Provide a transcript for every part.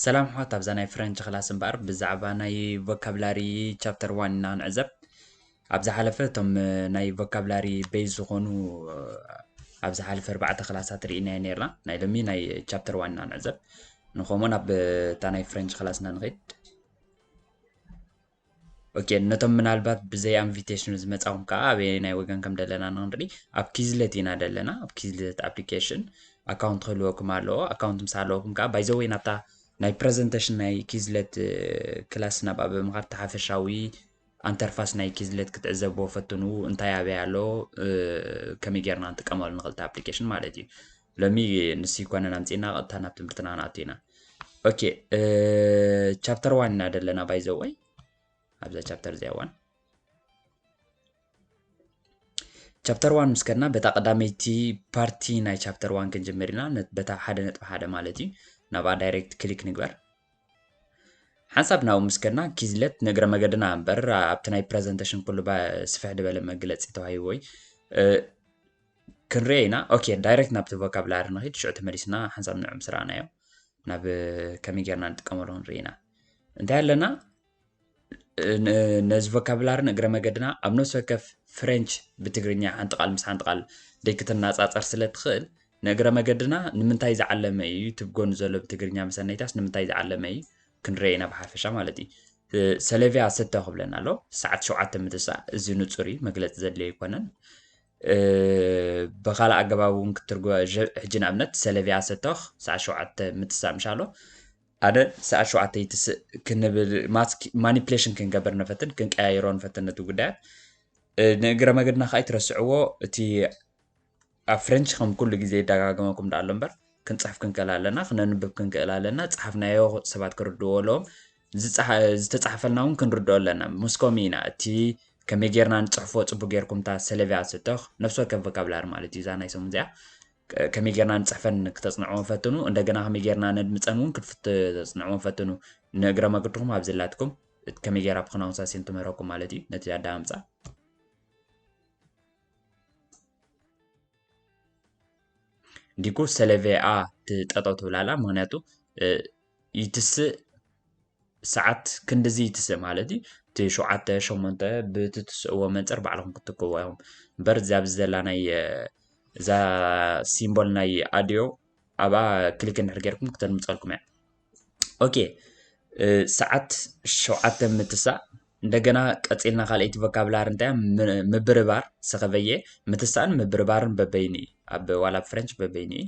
ሰላም ኣሕዋት ኣብዛ ናይ ፍረንች ክላስ እምበኣር ብዛዕባ ናይ ቮካብላሪ ቻፕተር ዋን ኢና ንዕዘብ ኣብ ዝሓለፈ እቶም ናይ ቮካብላሪ ቤዝ ዝኾኑ ኣብ ዝሓለፈ ኣርባዕተ ክላሳት ርኢናዮ ነርና ናይ ሎሚ ናይ ቻፕተር ዋን ኢና ንዕዘብ ንከምኡን ኣብታ ናይ ፍረንች ክላስና ንኸይድ ኦኬ ነቶም ምናልባት ብዘይ ኣንቪቴሽኑ ዝመጻኹም ከዓ ኣበየናይ ወገን ከም ደለና ንክንርኢ ኣብ ኪዝለት ኢና ደለና ኣብ ኪዝለት ኣፕሊኬሽን ኣካውንት ክህልወኩም ኣለዎ ኣካውንት ምስ ኣለወኩም ከዓ ባይዘወይ ናብታ ናይ ፕረዘንቴሽን ናይ ኪዝለት ክላስ ናብ ኣበ ምኻድ ተሓፈሻዊ ኣንተርፋስ ናይ ኪዝለት ክትዕዘብዎ ፈትኑ እንታይ ኣበይ ኣሎ ከመይ ጌርና ንጥቀመሉ ንኽእል ኣፕሊኬሽን ማለት እዩ ሎሚ ንሱ ይኮነን ኣምጺእና ቀጥታ ናብ ትምህርትና ክንኣቱ ኢና ኦኬ ቻፕተር ዋን ኢና ዘለና ባይዘወይ ኣብዛ ቻፕተር እዚኣ ዋን ቻፕተር ዋን ምስ ከድና በታ ቀዳመይቲ ፓርቲ ናይ ቻፕተር ዋን ክንጅምር ኢና በታ ሓደ ነጥቢ ሓደ ማለት እዩ ናብኣ ዳይሬክት ክሊክ ንግበር ሓንሳብ ናብኡ ምስ ከድና ኪዝለት ንእግረ መገድና እምበር ኣብቲ ናይ ፕረዘንቴሽን ኩሉ ስፍሕ ዝበለ መግለፂ ተዋሂብዎይ ክንሪኦ ኢና ኦኬ ዳይረክት ናብቲ ቮካብላሪ ንኺድ ሽዑ ተመሊስና ሓንሳብ ንዑ ምስ ረኣናዮ ናብ ከመይ ጌርና ንጥቀመሉ ክንርኢ ኢና እንታይ ኣለና ነዚ ቮካብላሪ ንእግረ መገድና ኣብ ነፍሲ ወከፍ ፍሬንች ብትግርኛ ሓንቲ ቃል ምስ ሓንቲ ቃል ደይክትናፃፀር ስለ ትኽእል ንእግረ መገድና ንምንታይ ዝዓለመ እዩ እቲ ጎኑ ዘሎ ብትግርኛ መሰነይታስ ንምንታይ ዝዓለመ እዩ ክንረአ ኢና ብሓፈሻ ማለት እዩ ሰለቪያ ሰተ ክብለና ኣሎ ሰዓት ሸውዓተ ምትሳእ እዚ ንፁር እዩ መግለፂ ዘድልዮ ኣይኮነን ብኻልእ ኣገባብ እውን ክትርጎ ሕጂ ንኣብነት ሰለቪያ ሰቶኽ ሰዓት ሸውዓተ ምትሳእ ምሻሎ ኣነ ሰዓት ሸውዓተ ይትስእ ክንብል ማኒፕሌሽን ክንገብር ንፈትን ክንቀያይሮ ንፈትን ነቲ ጉዳያት ንእግረ መገድና ከዓ ይትረስዕዎ እቲ ኣብ ፍሬንች ከም ኩሉ ግዜ ይደጋገመኩም ዳኣሎ እምበር ክንፅሕፍ ክንክእል ኣለና ክነንብብ ክንክእል ኣለና ፀሓፍናዮ ሰባት ክርድዎ ኣለዎም ዝተጻሕፈልና ውን ክንርድኦ ኣለና ሞስኮሚ ኢና እቲ ከመይ ጌርና ንጽሕፎ ጽቡቅ ጌርኩም እታ ሰለቪያ ስቶኽ ነፍሲ ወከፍ ቮካብላሪ ማለት እዩ እዛ ናይ ሰሙን እዚኣ ከመይ ጌርና ንጽሕፈን ክተጽንዕዎም ፈትኑ እንደገና ከመይ ጌርና ነድምጸን እውን ክትተጽንዕዎም ፈትኑ ንእግረ መግድኹም ኣብ ዘላትኩም ከመይ ጌራ ብክናውን ሳሴን ትምህረኩም ማለት እዩ ነቲ ኣዳምጻ ዲኩ ሰለቬኣ ትጠጠው ትብላላ ምክንያቱ ይትስእ ሰዓት ክንድዚ ይትስእ ማለት እዩ እቲ ሸውዓተ ሸሞንተ ብቲ ትስእዎ መንፅር ባዕልኹም ክትክዎ ኢኹም እምበር እዛ ኣብዚ ዘላ ናይ እዛ ሲምቦል ናይ ኣድዮ ኣብኣ ክሊክ እንድሕር ጌርኩም ክተድምፀልኩም እያ ኦኬ ሰዓት ሸውዓተ ምትሳእ እንደገና ቀፂልና ካልኣይቲ ቮካብላር እንታይ ምብርባር ሰኸበየ ምትሳእን ምብርባርን በበይኑ እዩ ኣብ ዋላ ፍሬንች በበይኑ እዩ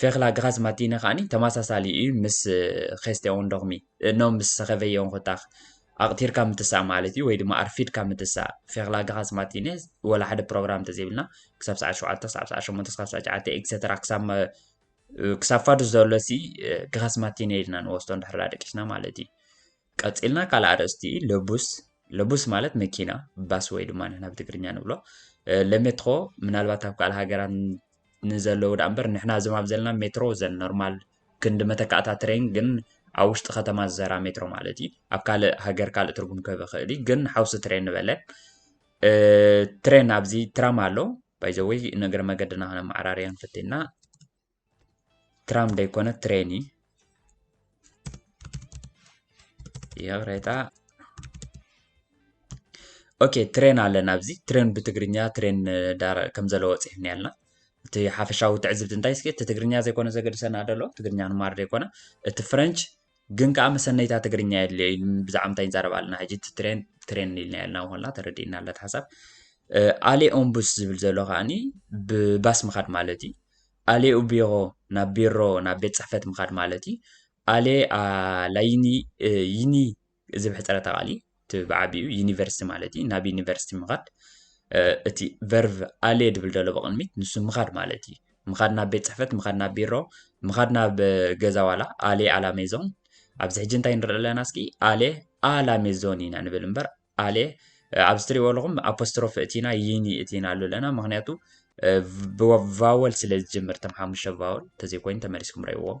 ፌክላ ግኻስ ማቲነ ከኣኒ ተማሳሳሊ እዩ ምስ ኼስቴ ኦንዶኽሚ እኖም ምስ ሰኸቨየ ኦንኾታኽ ኣቕቲርካ ምትሳእ ማለት እዩ ወይ ድማ ኣርፊድካ ምትሳእ ፌክላ ግኻስ ማቲነ ወላ ሓደ ፕሮግራም ተዘይብልና ክሳብ ሰዓት ሸውዓተ ክሳብ ሰዓት ሸሞንተ ክሳብ ሰዓት ሸዓተ ኤክሰትራ ክሳብ ክሳብ ፋዱስ ዘሎ ሲ ግኻስ ማቲነ ኢልና ንወስዶ እንድሕር ደቂስና ማለት እዩ ቀጺልና ካልእ ኣርእስቲ ለቡስ ለቡስ ማለት መኪና ባስ ወይ ድማ ንሕና ብትግርኛ ንብሎ ለሜትሮ ምናልባት ኣብ ካልእ ሃገራት ንዘለዉ ደኣ እምበር ንሕና እዞም ኣብ ዘለና ሜትሮ ዘን ኖርማል ክንዲ መተካእታ ትሬን ግን ኣብ ውሽጢ ከተማ ዝሰራ ሜትሮ ማለት እዩ ኣብ ካልእ ሃገር ካልእ ትርጉም ክህብ ይኽእል እዩ ግን ሓውሲ ትሬን ንበለን ትሬን ኣብዚ ትራም ኣሎ ባይዘወይ ንእግረ መገድና ክነመዓራርያን ፈቲና ትራም ደይኮነ ትሬን እዩ ይቅሬታ ኦኬ ትሬን ኣለና ኣብዚ ትሬን ብትግርኛ ትሬን ከም ዘለዎ ፅሒፍኒ ኣለና እቲ ሓፈሻዊ ትዕዝብቲ እንታይ እስኪ እቲ ትግርኛ ዘይኮነ ዘገድሰና ደሎ ትግርኛ ንማር ዘይኮነ እቲ ፍረንች ግን ከኣ መሰነይታ ትግርኛ የድልዮ እዩ ብዛዕባ እንታይ ንዛረብ ኣለና ሕጂ እቲ ትሬን ትሬን ኢልና ያልና ኮላ ተረዲእና ኣላ እቲ ሓሳብ ኣሌ ኦምቡስ ዝብል ዘሎ ከዓኒ ብባስ ምኻድ ማለት እዩ ኣሌ ኡቢሮ ናብ ቢሮ ናብ ቤት ጽሕፈት ምኻድ ማለት እዩ ኣሌ ኣላይኒ ይኒ እዚ ምሕጸረታ ቃል'ዩ። እቲ ብዓቢኡ ዩኒቨርሲቲ ማለት እዩ። ናብ ዩኒቨርሲቲ ምኻድ እቲ ቨርቭ ኣሌ ድብል ደሎ ብቕድሚት ንሱ ምኻድ ማለት እዩ። ምኻድ ናብ ቤት ጽሕፈት፣ ምኻድ ናብ ቢሮ፣ ምኻድ ናብ ገዛ ዋላ ኣሌ ኣላ ሜዞን። ኣብዚ ሕጂ እንታይ ንርኢ ኣለና እስኪ ኣሌ ኣላ ሜዞን ኢና ንብል እምበር ኣሌ ኣብዚ ትርእይዎ ኣለኹም ኣፖስትሮፊ እቲና ዩኒ እቲና ኣሉ ኣለና ምክንያቱ ብቫወል ስለ ዝጅምር ተም ሓሙሽተ ቫወል ተዘይኮይኑ ተመሊስኩም ረእዎም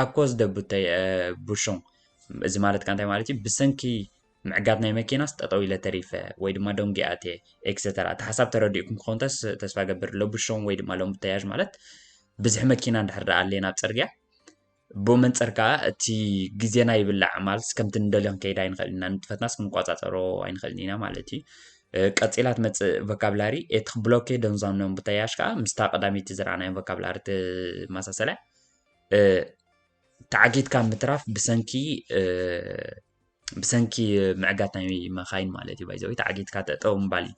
ኣኮ ዝደቡተይ ቡሹን እዚ ማለት ከ እንታይ ማለት እዩ ብሰንኪ ምዕጋት ናይ መኪናስ ጠጠው ኢለ ተሪፈ ወይ ድማ ደንጊ ኣትየ ኤክሰተራ እቲ ሓሳብ ተረዲኡኩም ክኸውን ተስ- ተስፋ ገብር ለቡሾን ወይ ድማ ለምቡተያዥ ማለት ብዝሒ መኪና እንድሕር ደኣ ኣልየን ኣብ ጽርግያ ብኡ መንጽር ከኣ እቲ ግዜና ይብላዕ ማለት ከምቲ ንደልዮ ክንከይድ ኣይንኽእል ኢና ንጥፈትናስ ክንቆጻጸሮ ኣይንኽእልን ኢና ማለት እዩ ቀጺላ ትመጽእ ቮካብላሪ እቲ ክብሎኬ ደንዟን ኖም ብተያያዥ ከኣ ምስታ ቀዳመይቲ ዝረኣናዮ ቮካብላሪ ትመሳሰል እያ። ተዓጊትካ ምትራፍ ብሰንኪ ብሰንኪ ምዕጋት ናይ መኻይን ማለት እዩ ባይዘወይ ተዓጊትካ ጠጠው ምባል እዩ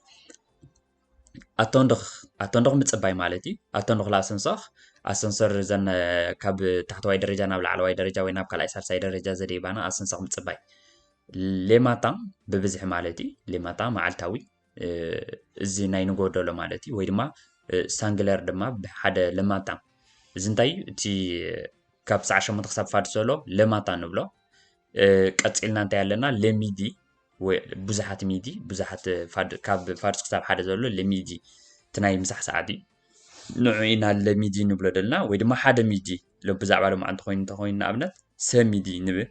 ኣቶንዶኽ ኣቶንዶኽ ምፅባይ ማለት እዩ ኣቶንዶኽ ላሰንሶኽ ኣሰንሶር ዘን ካብ ታሕተዋይ ደረጃ ናብ ላዕለዋይ ደረጃ ወይ ናብ ካልኣይ ሳልሳይ ደረጃ ዘደይባና ኣሰንሶኽ ምፅባይ ሌማታ ብብዝሒ ማለት እዩ ሌማታ መዓልታዊ እዚ ናይ ንጎደሎ ማለት እዩ ወይ ድማ ሳንግለር ድማ ብሓደ ለማታ እዚ እንታይ እዩ እቲ ካብ ሰዓ ሸሞንተ ክሳብ ፋድ ሰሎ ለማታ ንብሎ ቀፂልና እንታይ ኣለና ለሚዲ ብዙሓት ሚዲ ብዙሓት ካብ ፋድስ ክሳብ ሓደ ዘሎ ለሚዲ እቲ ናይ ምሳሕ ሰዓት እዩ ንዑ ኢና ለሚዲ ንብሎ ደልና ወይ ድማ ሓደ ሚዲ ብዛዕባ ሎማዓ እንተኮይኑ እንተኮይኑ ንኣብነት ሰሚዲ ንብል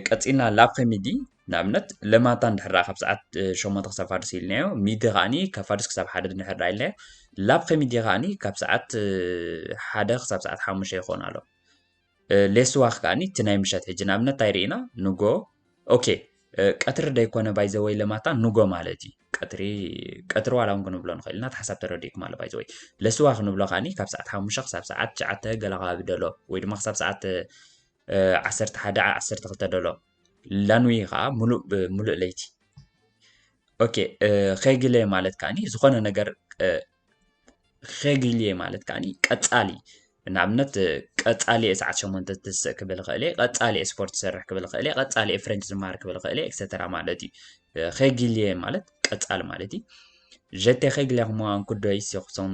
ቀጺልና ላብ ከሚዲ ንኣብነት ለማንታ እንድሕር ካብ ሰዓት ሸሞንተ ክሳብ ፋድስ ኢልናዮ ሚዲ ከዓኒ ካብ ፋድስ ክሳብ ሓደ እንድሕር ኢልናዮ ላብ ከሚዲ ከዓኒ ካብ ሰዓት ሓደ ክሳብ ሰዓት ሓሙሽተ ይኸውን ኣሎ ሌስዋኽ ከዓኒ እቲ ናይ ምሸት ሕጂ ንኣብነት እንታይ ርኢና ንጎ ኦኬ ቀትሪ ደይኮነ ባይዘወይ ለማታ ንጎ ማለት እዩ ቀትሪ ቀትሪ ዋላ እውን ክንብሎ ንኽእል ኢና ሓሳብ ተረዲእኩም ኣሎ ባይዘወይ ለስዋ ክንብሎ ከዓኒ ካብ ሰዓት ሓሙሽተ ክሳብ ሰዓት ትሽዓተ ገለ ከባቢ ደሎ ወይ ድማ ክሳብ ሰዓት ዓሰርተ ሓደ ዓ ዓሰርተ ክልተ ደሎ ላንዊ ከዓ ሙሉእ ብሙሉእ ለይቲ ኦኬ ኸግለ ማለት ከዓ ዝኾነ ነገር ኸግልየ ማለት ከዓ ቀፃሊ ንኣብነት ቀፃሊ ሰዓት ሸሞንተ ትስእ ክብል ኽእል እየ ቀፃሊ ስፖርት ዝሰርሕ ክብል ኽእል እየ ቀፃሊ ፍረንች ዝመሃር ክብል ኽእል እየ ኤክሰተራ ማለት እዩ ኸግልየ ማለት ቀፃሊ ማለት እዩ ጀቴ ኸግልያ ክመዋን ኩዶይስ የኹሶም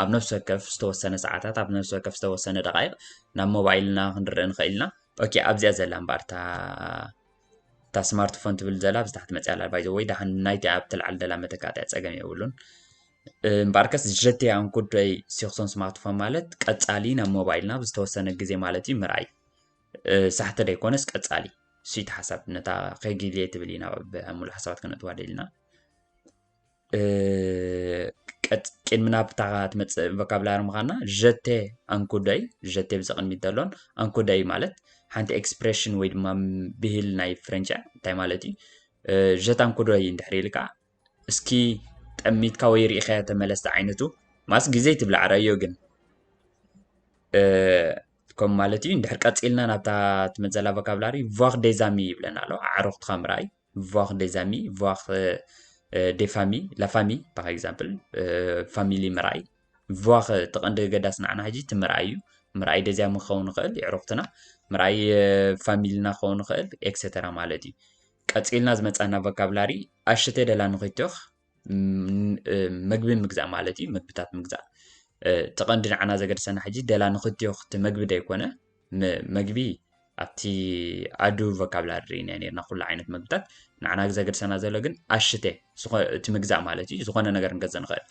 ኣብ ነፍሲ ወከፍ ዝተወሰነ ሰዓታት ኣብ ነፍሲ ወከፍ ዝተወሰነ ደቓይቕ ናብ ሞባይልና ክንርእ ንኽእል ኢና ኦኬ ኣብዚኣ ዘላ እምበር እታ እታ ስማርትፎን ትብል ዘላ ኣብዚ ታሕቲ መፅያ ኣላ ባይዘ ወይ ዳሓን ናይቲ ኣብ ትልዓል ዘላ መተካእትያ ፀገም የብሉን እምበኣርከስ ሸቴ ኣንኩደይ ሲክሶን ስማርትፎን ማለት ቀፃሊ ናብ ሞባይልና ኣብ ዝተወሰነ ግዜ ማለት እዩ ምርኣይ ሳሕቲ ደይኮነስ ቀፃሊ ስይቲ ሓሳብ ነታ ከጊልየ ትብል ኢና ሙሉእ ሓሳባት ክነጥዋ ደልና ቅድሚ ናብታ ትመፅእ ቮካብላሪ ምዃና ዠቴ ኣንኩደይ ዠቴ ብዚ ቅድሚት ዘሎን ኣንኩደይ ማለት ሓንቲ ኤክስፕሬሽን ወይ ድማ ብሂል ናይ ፍረንቻ እንታይ ማለት እዩ ዠት ኣንኩደይ እንድሕር ኢልካ እስኪ ጠሚትካ ወይ ርኢኸያ ተመለስቲ ዓይነቱ ማስ ግዜ ትብላ ዓረዮ ግን ከም ማለት እዩ እንድሕር ቀፂልና ናብታ ትመፅእ ዘላ ቮካብላሪ ቫክ ዴዛሚ ይብለና ኣሎ ኣዕሩኽትኻ ምርኣይ ቮር ዴዝ ኣሚ ቮር ዴ ፋሚ ላፋሚ ፓር ኤግዛምፕል ፋሚሊ ምርኣይ ቮር እቲ ቀንዲ ገዳሲ ንዓና ሕጂ እቲ ምርኣይ እዩ ምርኣይ ደዚያ ምን ክኸውን ይኽእል የዕሩኽትና ምርኣይ ፋሚልና ክኸውን ይኽእል ኤክሰተራ ማለት እዩ ቀፂልና ዝመፃና ቮካብላሪ ኣሽተ ደላ ንኺቶኽ መግቢ ምግዛእ ማለት እዩ መግብታት ምግዛእ እቲ ቀንዲ ንዓና ዘገድሰና ሕጂ ደላ ንክትዮ ክቲ መግቢ ደይኮነ መግቢ ኣብቲ ኣዱ ቮካብላሪ ኢና ነርና ኩሉ ዓይነት መግብታት ንዓና ዘገድሰና ዘሎ ግን ኣሽተ እቲ ምግዛእ ማለት እዩ ዝኾነ ነገር ክንገዝእ ንኽእል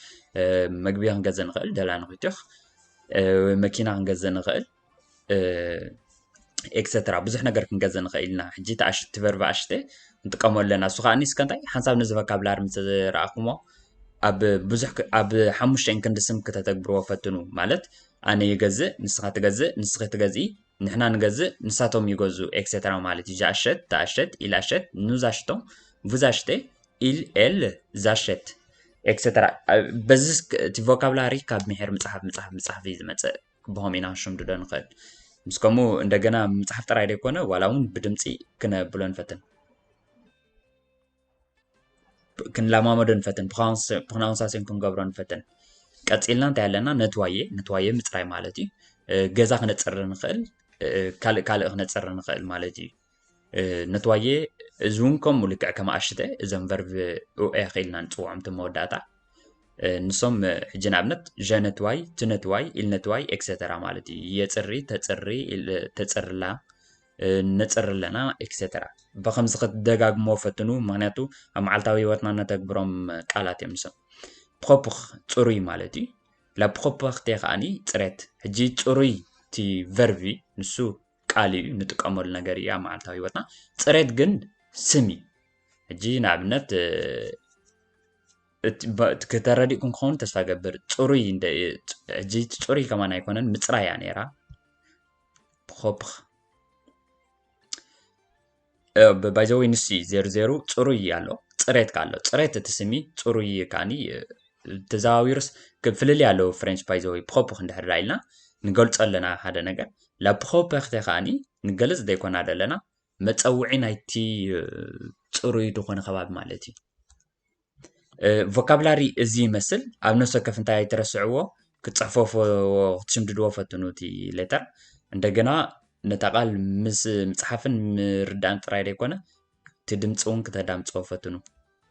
መግቢ ክንገዝእ ንኽእል ደላ ንክትዮኽ መኪና ክንገዝእ ንኽእል ኤክሰትራ ብዙሕ ነገር ክንገዝእ ንኽእል ኢና። ሕጂ እቲ ኣሽ- እቲ ቨርብ ኣሽተ ንጥቀሞ ኣለና እሱ ከኣኒ እስከ እንታይ ሓንሳብ ነዚ ቮካብላሪ ምስ ረኣኹሞ ኣብ ብዙሕ ክ- ኣብ ሓሙሽተን ክንዲ ስም ክተተግብርዎ ፈትኑ ማለት ኣነ ይገዝእ ንስኻ ትገዝእ ንስኺ ትገዝኢ ንሕና ንገዝእ ንሳቶም ይገዝኡ ኤክሰትራ ማለት እዩ ዣሸት ዳሸት ኢላሸት ኑዛሽቶም ቡዛሽተ ኢል ኤል ዛሸት ኤክሰትራ በዚ እስክ- እቲ ቮካብላሪ ካብ ምሒር ምፅሓፍ ምፅሓፍ ምፅሓፍ እዩ ዝመፅእ ክብሆም ኢና ክንሽምድዶ ንኽእል። ምስ ከምኡ እንደገና ምጽሓፍ ጥራይ ደይኮነ ዋላ እውን ብድምጺ ክነብሎ ንፈትን ክንለማመዶ ንፈትን ብክናውንሳሴን ክንገብሮ ንፈትን ቀጺልና እንታይ ኣለና ነትዋየ ነትዋየ ምጽራይ ማለት እዩ ገዛ ክነጽሪ ንኽእል ካልእ ካልእ ክነጽሪ ንኽእል ማለት እዩ ነትዋዬ እዚ እውን ከምኡ ልክዕ ከም ኣሽተ እዞም ቨርብ ኡኤ ክኢልና ንፅውዖም እቲ መወዳእታ ንሶም ሕጂ ንኣብነት ዠነትዋይ ትነትዋይ ኢልነትዋይ ኤክሰተራ ማለት እዩ የፅሪ ተፅሪ ተፅርላ ነፅር ኣለና ኤክሰተራ ብከምዚ ክትደጋግሞ ፈትኑ ምክንያቱ ኣብ መዓልታዊ ህይወትና ነተግብሮም ቃላት እዮም ንሶም ፕኮፕኽ ፅሩይ ማለት እዩ ላፕኮፕኽቴ ከዓኒ ፅሬት ሕጂ ፅሩይ እቲ ቨርቢ ንሱ ቃል እዩ ንጥቀመሉ ነገር እዩ ኣብ መዓልታዊ ህይወትና ፅሬት ግን ስም እዩ ሕጂ ንኣብነት ክተረዲእኩም ክኸውን ተስፋ ገብር ፅሩይ ሕጂ ፅሩይ ከማን ኣይኮነን ምፅራይ እያ ነይራ ብኮፕኽ ባይዘወይ ንሱ እዩ ዜሩ ዜሩ ፅሩይ እዩ ኣሎ ፅሬት ከ ኣሎ ፅሬት እቲ ስሚ ፅሩይ እዩ ከዓኒ ተዘዋዊሩስ ፍልልይ ኣለዎ ፍሬንች ባይዘወይ ብኮፕ ክንድሕር ዳ ኢልና ንገልፆ ኣለና ሓደ ነገር ላብ ብኮፕ ክተ ከዓኒ ንገልፅ ዘይኮና ዘለና መፀውዒ ናይቲ ፅሩይ ዝኾነ ከባቢ ማለት እዩ። ቮካብላሪ እዚ ይመስል ኣብ ነፍሲ ወከፍ እንታይ ኣይትረስዕዎ ክትጽሕፈፉ ክትሽምድድዎ ፈትኑ እቲ ሌተር እንደገና ነታ ቃል ምስ ምጽሓፍን ምርዳእን ጥራይ ዘይኮነ እቲ ድምፂ እውን ክተዳምፅዎ ፈትኑ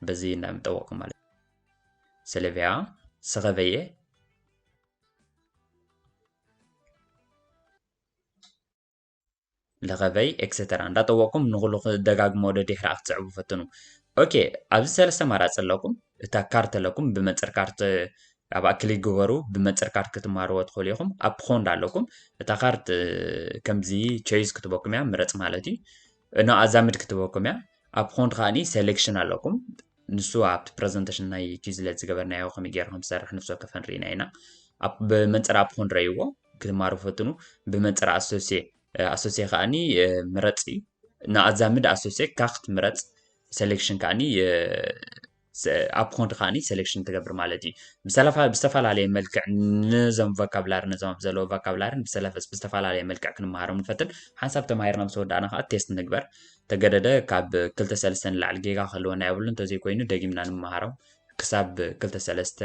በዚ እንዳምጠወቅኩም ማለት ስለዚያ ሰኸበየ ለኸበይ ኤክሰተራ እንዳጠወቅኩም ንኹሉ ክደጋግሞ ወደ ድሕሪ ክትስዕቡ ፈትኑ ኦኬ ኣብዚ ሰለስተ ማራፂ ኣለኩም እታ ካርት ኣለኩም ብመንፅር ካርት ኣብኣ ክሊክ ግበሩ ብመንፅር ካርት ክትማርዎ ትኽእሉ ኢኹም ኣብ ፖንድ ኣለኩም እታ ካርት ከምዚ ቸይዝ ክትበኩም እያ ምረፅ ማለት እዩ እኖ ኣዛምድ ክትበኩም እያ ኣብ ፖንድ ከዓኒ ሴሌክሽን ኣለኩም ንሱ ኣብቲ ፕረዘንተሽን ናይ ኪዝለት ዝገበርናዮ ከመይ ጌርና ከም ዝሰርሕ ንፍሲ ወከፍ ርኢና ኢና። ኣብ ብመንጽር ኣፕ ኮን ረእይዎ ክማሩ ፈትኑ ብመንጽር ኣሶሴ ኣሶሴ ከኣኒ ምረጽ እዩ ንኣዛምድ ኣሶሴ ካክት ምረጽ ሴሌክሽን ከኣኒ ኣብ ኮንት ከኣኒ ሴሌክሽን ትገብር ማለት እዩ ብዝተፈላለየ መልክዕ ነዞም ቫካብላሪ ነዞም ኣብ ዘለዎ ቫካብላሪን ብዝተፈላለየ መልክዕ ክንመሃሮም ንፈትን ሓንሳብ ተማሂርና ምስ ወዳእና ከዓ ቴስት ንግበር ተገደደ ካብ ክልተ ሰለስተ ንላዕሊ ጌጋ ክህልወና የብሉን እንተዘይኮይኑ ደጊምና ንመሃሮም ክሳብ ክልተ ሰለስተ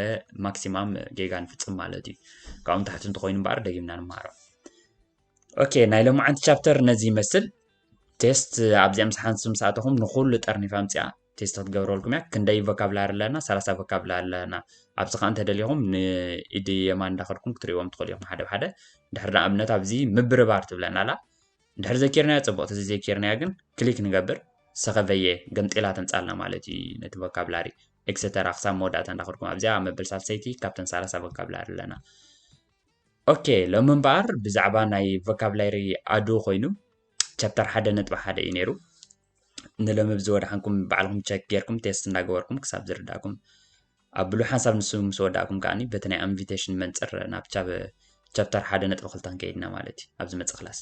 ማክሲማም ጌጋ ንፍጽም ማለት እዩ ካብኡ ንታሕቲ እንተኾይኑ እምበኣር ደጊምና ንመሃሮም ኦኬ ናይ ሎማዓንቲ ቻፕተር ነዚ ይመስል ቴስት ኣብዚኣ ምስ ሓንሱ ምስ ኣተኹም ንኹሉ ጠርኒፋ ምፅኣ ቴስት ክትገብረልኩም እያ ክንደይ ቮካብላሪ ኣለና ሰላሳ ቮካብላሪ ኣለና ኣብዚ ከዓ እንተደሊኹም ንኢድ የማን እንዳኸድኩም ክትሪእዎም ትኽእሉ ኢኹም ሓደ ብሓደ ድሕሪ ንኣብነት ኣብዚ ምብርባር ትብለና ኣላ እንድሕር ዘኪርናያ ጽቡቅ ተዘይ ዘኪርናያ ግን ክሊክ ንገብር ሰከቨየ ገምጢላ ተምጻልና ማለት እዩ ነቲ ቮካብላሪ ኤክሰተራ ክሳብ መወዳእታ እንዳኸድኩም ኣብዚኣ ኣብ መበል ሳልሰይቲ ካብተን ሳላሳ ቮካብላሪ ኣለና ኦኬ ሎሚ እምበኣር ብዛዕባ ናይ ቮካብላሪ ኣዱ ኮይኑ ቻፕተር ሓደ ነጥቢ ሓደ እዩ ነይሩ ንሎሚ ብዚ ወድሓንኩም ባዕልኹም ቸክ ጌርኩም ቴስት እንዳገበርኩም ክሳብ ዝርዳእኩም ኣብሉ ሓንሳብ ንሱ ምስ ወዳእኩም ከዓኒ በቲ ናይ ኣንቪቴሽን መንፅር ናብ ቻብ ቻፕተር ሓደ ነጥቢ ክልተ ክንከይድና ማለት እዩ ኣብ ዝመፅእ ክላስ